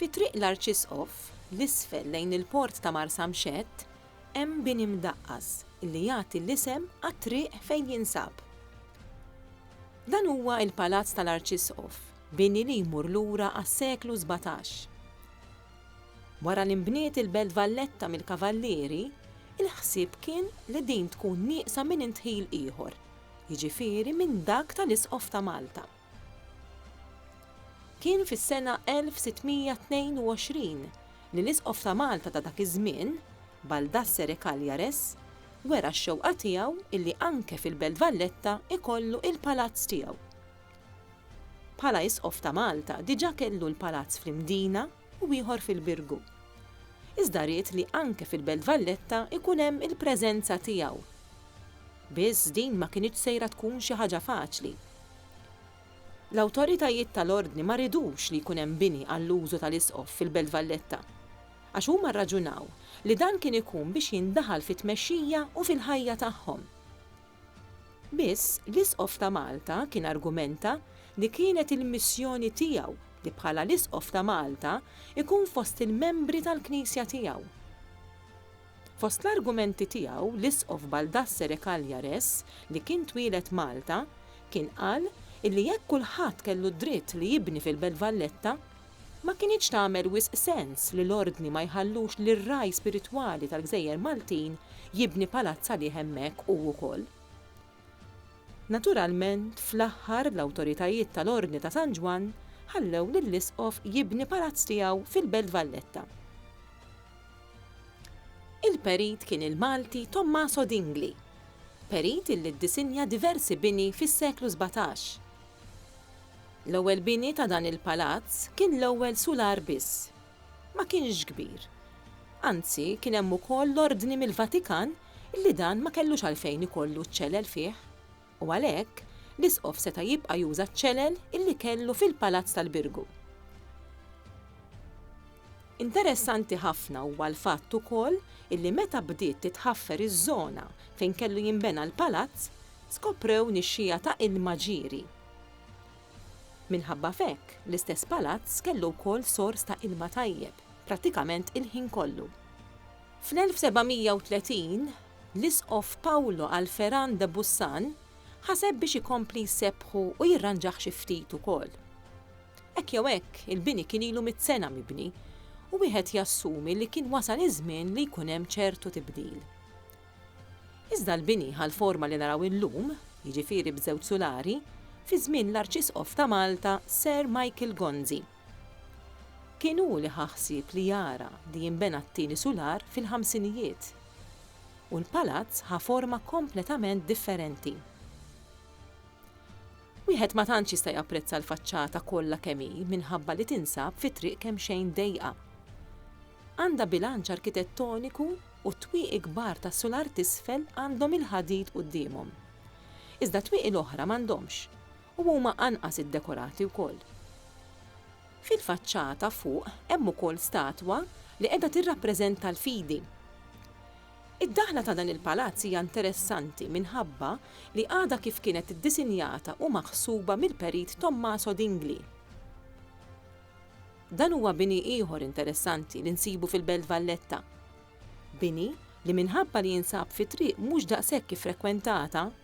Fi Triq l-Arċisqof, 'l isfel lejn il-port ta' Marsamxett, hemm bini mdaqqas li jagħti l-isem għat-triq fejn jinsab. Dan huwa l-Palazz tal-Arċisqof, bini li jmur lura għas-seklu sbatax. Wara li nbniet il-Belt Valletta mill-Kavallieri, il-ħsieb kien li din tkun nieqsa minn indħil ieħor, jiġifieri minn dak tal-Isqof ta' Malta. Kien fis-sena 1622 li l-Isqof ta' Malta ta' dak iż-żmien, Baldassere Cagliares, wera x-xewqa tiegħu illi anke fil-Belt Valletta ikollu il-palazz tiegħu. Bħala Isqof ta' Malta diġà kellu l-palazz fl-Imdina, u ieħor fil-Birgu. Iżda ried li anke fil-Belt Valletta jkun hemm il-preżenza tiegħu. Biss din ma kinitx sejra tkun xi ħaġa faċli. L-awtoritajiet tal-Ordni ma ridux li jkun hemm bini għall-użu tal-Isqof fil-Belt Valletta, għax huma rraġunaw li dan kien ikun biex jindaħal fit-tmexxija u fil-ħajja tagħhom. Biss l-Isqof ta' Malta kien argumenta li kienet il-missjoni tiegħu li bħala l-Isqof ta' Malta jkun fost il-membri tal-Knisja tiegħu. Fost l-argumenti tiegħu l-Isqof Baldassere Cagliares, li kien twieled Malta, kien qal illi jekk kulħadd kellu d-dritt li jibni fil-Belt Valletta, ma kinitx tagħmel wisq sens li l-Ordni ma jħallux lir-ragħaj spiritwali tal-gżejjer Maltin jibni palazz għalih hemmhekk hu wkoll. Naturalment, fl-aħħar l-awtoritajiet tal-Ordni ta' San Ġwann ħallew lill-Isqof jibni palazz tiegħu fil-Belt Valletta. Il-perit kien il-Malti Tommaso Dingli, perit illi ddisinja diversi bini fis-seklu sbatax. L-ewwel bini ta' dan il-palazz kien l-ewwel sular biss. Ma kienx kbir. Anzi, kien hemm ukoll l-ordni mill-Vatikan li dan ma kellux għalfejn ikollu ċ-ċelel fih, u għalhekk, l-isqof seta' jibqa' juża ċ-ċelel li kellu fil-Palazz tal-Birgu. Interessanti ħafna huwa l-fatt ukoll li meta bdiet titħaffer iż-żona fejn kellu jinbena l-palazz, skoprew nixxiegħa ta' ilma ġieri. Minħabba f'hekk, l-istess palazz kellu wkoll sors ta' ilma tajjeb, prattikament il-ħin kollu. Fl-1730, l-Isqof Paolo Alferan de Bussan ħaseb biex ikompli jsebbħu u jirranġah xi ftit ukoll. Hekk jew hekk, il-bini kien ilu mitt sena mibni u wieħed jassumi li kien wasal iż-żmien li jkun hemm ċertu tibdil. Iżda l-bini ħa l-forma li naraw illum, jiġifieri b'żewġ sulari, fi żmien l-Arċisqof ta' Malta Sir Michael Gonzi. Kien hu li ħa ħsieb li jara li jinbena t-tieni sular fil-ħamsinijiet. U l-palazz ħa forma kompletament differenti. Wieħed ma tantx jista' japprezza l-faċċata kollha kemm hi minħabba li tinsab fi triq kemxejn dejqa. Għandha bilanċ arkitettoniku u t-twieqi kbar tas-sular t'isfel għandhom il-ħadid quddiemhom. Iżda t-twieqi l-oħra m'għandhomx. u huma anqas iddekorati wkoll. Fil-faċċata fuq hemm ukoll statwa li qiegħda tirrappreżenta l-fidi. Id-daħla ta' dan il-palazz hija interessanti minħabba li għadha kif kienet iddisinjata u maħsuba mill-perit Tommaso Dingli. Dan huwa bini ieħor interessanti li nsibu fil-Belt Valletta. Bini li minħabba li jinsab fi triq mhux daqshekk iffrekwentata,